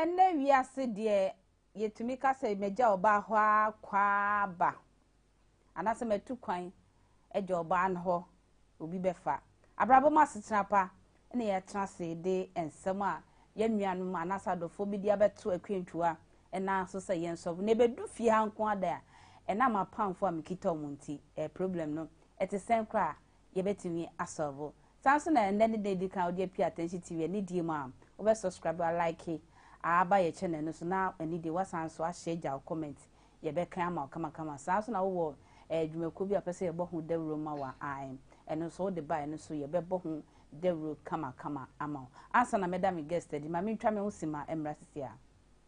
Ɛnnɛ wiase deɛ Yɛtumi ka sɛ, Magya ɔbaa hɔ ara kɔ ara ba, anaasɛ matu kwan agya ɔbaa no hɔ, obi bɛfa. Abrabɔ mu asetena pa na yɛatena ase de nsɛm a yɛn nuanom anaasɛ adɔfoɔ bi de abɛto akwantua nan so sɛ yɛnsɔre. Na ɛbɛdu fie ha nko ara da a, ɛnam apamfoɔ a mekita wɔn nti, ɛɛ problem no te sɛn koraa a, yɛbɛtumi asɔlvo. Saa nso na ɛnnɛ ne da edi kan a wode apue Atɛnhye TV anidie mu a wobɛ sɔskraibe, alaike, aaba yɛ kyɛnɛl no so na anidie woasan nso ahyɛ agya wo kɔmɛnt yɛbɛkan ama wo kamakama. Saa nso na wowɔ ɛɛ dwumakuo bi a wopɛ sɛ yɛbɔ ho dawuro ma wo a ae ɛno nso wode ba ɛno nso yɛbɛbɔ ho dawuro kamakama ama wo. Ansa na mɛda me guest adi ma mentwa me ho sima mmra sisi a.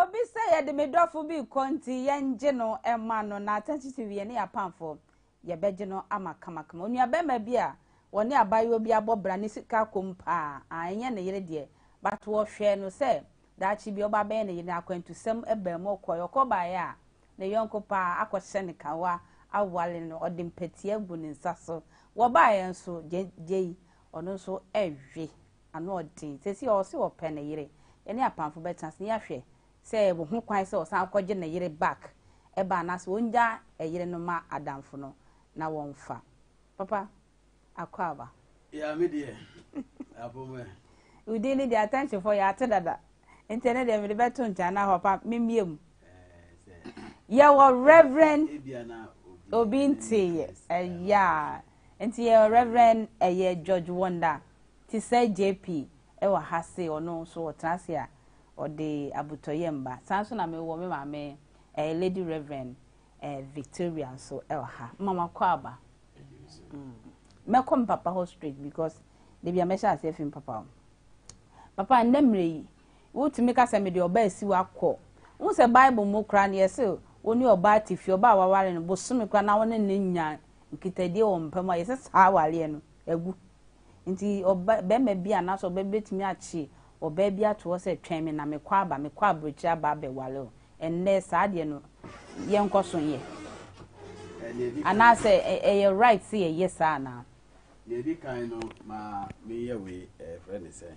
Obi sɛ yɛde me dɔfo bi rekɔ nti yɛngye no mma no na atɛnkye si wie ne yɛn apamfo yɛbɛgye no ama kamakama. Onuabarima bi a ɔne abaayewa bi abɔ bra ne sika kɔm paa a ɛnyɛ ne yere deɛ but ɔhwɛɛ no sɛ daakye bi ɔba bɛyɛ ne yere na akwantusɛm baa mu ɔkɔeɛ ɔkɔ baeɛ a ne yɔnko paa akɔhyɛ ne kawa awale no ɔde mpatia gu ne nsa so wɔbaeɛ nso gyei ɔno nso ɛwe Ano ɔden. Seesei ɔwɔ se ɔpɛ ne yere. Yɛne Apamfo bɛtena ase na yɛahwɛ sɛ yɛwɔ ho kwan sɛ ɔsan kɔgye ne yere back ba anaasɛ ɔngyaa yere no ma adamfo no na wɔmfa. Papa, Akwaaba. Yeah, me deɛ, apom ɛ. Wo din no deɛ Atɛnkyemfoɔ yɛate dada nti ɛno deɛ mede bɛto nkyɛn anaa papa memmie mu. Yɛwɔ Rev. Obi nteeɛ. Yeah. Nti yɛwɔ Rev. ɛyɛ George Wonder Te sɛ JP wɔ ha se ɔno nso ɔtena ase a ɔde abotɔyam ba. Saa ara nso na me wɔ me maame ɛɛ Lady Rev. Ɛɛ Victoria nso wɔ ha. Mma makɔ aba. Mɛkɔ me papa hɔ straight because da bi a mɛhyɛ aseɛ afi me papa hɔ. Papa nnɛ mmerɛ yi wotumi ka sɛ mede ɔba asi wo akɔ. Wohu sɛ Bible mu koraa no yɛse wo ne ɔbaa te fie, ɔbaa a waware no bosome koraa na wo ne no nya nkitadie wɔ mpa mu a yɛse saa awareɛ no agu. Enti ɔba, barima bi anaasɛ ɔbaa bi bɛtumi akye ɔbaa bi ato hɔ sɛ, Twɛn me na mekɔ aba, mekɔ aburokyire aba abɛware wo. Ɛnnɛ, saa deɛ no, yɛnkɔ so nyɛ. Anaasɛ ɛ, ɛyɛ right sɛ yɛyɛ saa anaa? Deɛ ɛdi kan no, ma menyɛ wei, ɛɛ, yɛfrɛ no sɛn?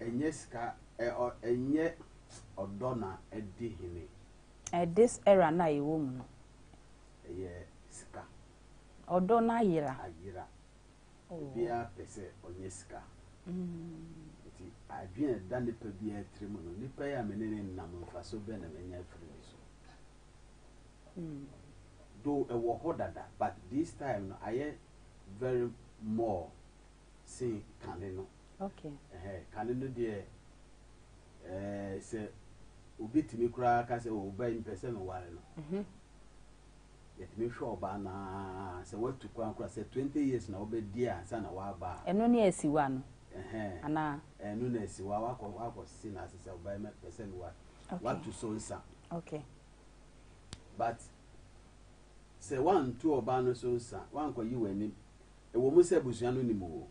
Ɛnyɛ sika ɛ ɔ ɛnyɛ ɔdɔ na adi hene. Ɛ this era no a yɛwɔ mu no. Ɛyɛ sika. Ɔdɔ no ayera. Ayera. Oh. Obiara pɛ sɛ ɔnyɛ sika. Nti adwene a ɛda nipa biara tiri mu no, nipa yi a me ne ne nam mfaso bɛn na manya afiri ne so? Though ɛwɔ hɔ dada but this time no ayɛ very more sen kane no. Kane no deɛ, sɛ obi tumi koraa ka sɛ, oh, bɛn mpɛ sɛ meware no, yɛtumi hwɛ ɔbaa no ara, sɛ watu kwan koraa, sɛ twenty years na wobɛdi ansa na woaba a. Ɛno ne asiwa no anaa? Ɛno ne asiwa, woakɔse no ase sɛ, ɔbaa yi mɛpɛ sɛ meware no, woatu so nsa. But sɛ woantu ɔbaa no so nsa, woankɔyi w'anim Ɛwɔ mu sɛ abusua no nim wo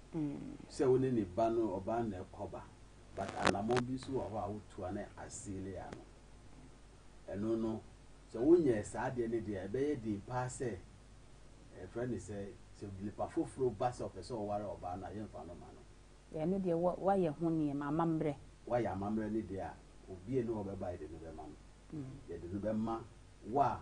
sɛ wo ne ne ba no ɔbaa na ɛkɔba but anamɔn bi nso wɔ hɔ a wotu a na aseale ano. Ɛno no sɛ wonyɛɛ saa adeɛ no deɛ ɛbɛyɛ den paa sɛ ɛfrɛ ne sɛ sɛ nipa foforo ba sɛ ɔpɛ sɛ ɔware ɔbaa no a yɛmfa no ma no. Ɛno deɛ woayɛ ho nneɛma amammerɛ. Woayɛ amammerɛ no deɛ a obie ne ɔbɛba yɛde no bɛma no. Yɛde no bɛma wo a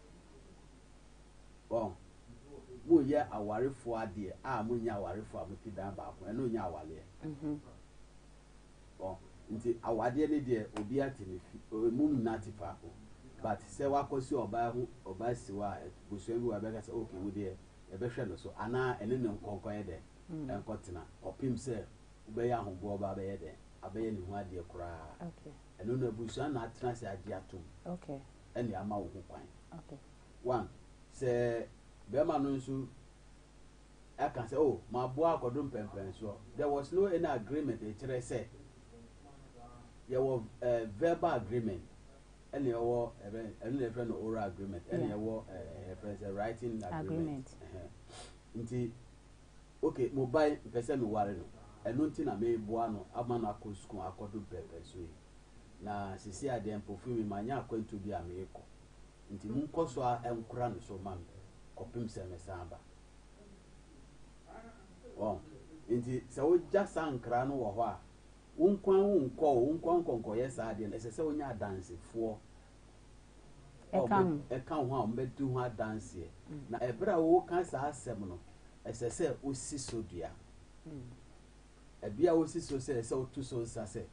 Wɔn, moyɛ awarefoɔ adeɛ a monyɛ awarefoɔ a mote dan baako, ɛno nyɛ awareɛ. Mhm. Wɔn, nti awadeɛ ne deɛ obi ate ne fi, ɛmum nna te faako. But sɛ wakɔsi ɔbaa ho, ɔbaa si hɔ a, busua bi wɔ ɛbɛka sɛ, ok, wo deɛ yɛbɛhwɛ no so, anaa ɛne no nkɔ nkɔyɛ dɛn, mm. ɛnkɔtena, kɔpem sɛ wobɛyɛ ahoboɔ ba abɛyɛ dɛn, abɛyɛ ne ho adeɛ koraa. Ɛno no abusua na atena ase agye atom. Okay. ɛne ama wo ho kwan one sɛ bɛrima no nso aka sɛ oh maboa akɔdo mpɛmpɛn soɔ there was no any agreement ɛkyerɛ sɛ yɛwɔ uh, verbal agreement ɛna ɛwɔ ɛbɛn ɛno na ɛfrɛ no oral agreement ɛna ɛwɔ ɛfrɛ sɛ writing agreement nti ok mobile mpɛ sɛ me ware no ɛno nti na meboa no ama no akɔ sukuu akɔdo mprɛmprɛ so yi na sisi a deɛ mpofi me manya akwantuo bi a meekɔ nti mo nkɔ so a nkora no so ma me kɔpem sɛ me san ba wɔn nti sɛ wogya saa nkra no wɔ hɔ a wo nkwa wo nkɔ wo nkɔ nkɔnkɔyɛ saa deɛ no ɛsɛ sɛ wonya adansefoɔ ɛka ho. ɛka ho a wɔbɛdi ho adanseɛ. Na ɛberɛ a ɔreka saa asɛm no, ɛsɛ sɛ ɔsi so dua. Ɛbea a ɔsi so sɛ sɛ ɔtu so nsa sɛ,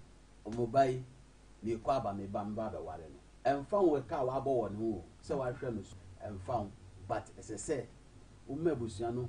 Mo ba yi, merekɔ aba me ba meba abɛware no. Ɛmfa ho ɛka a wabɔ wɔ ne ho o, sɛ wahwɛ no so, ɛmfa ho, but ɛsɛ sɛ woma abusua no hu.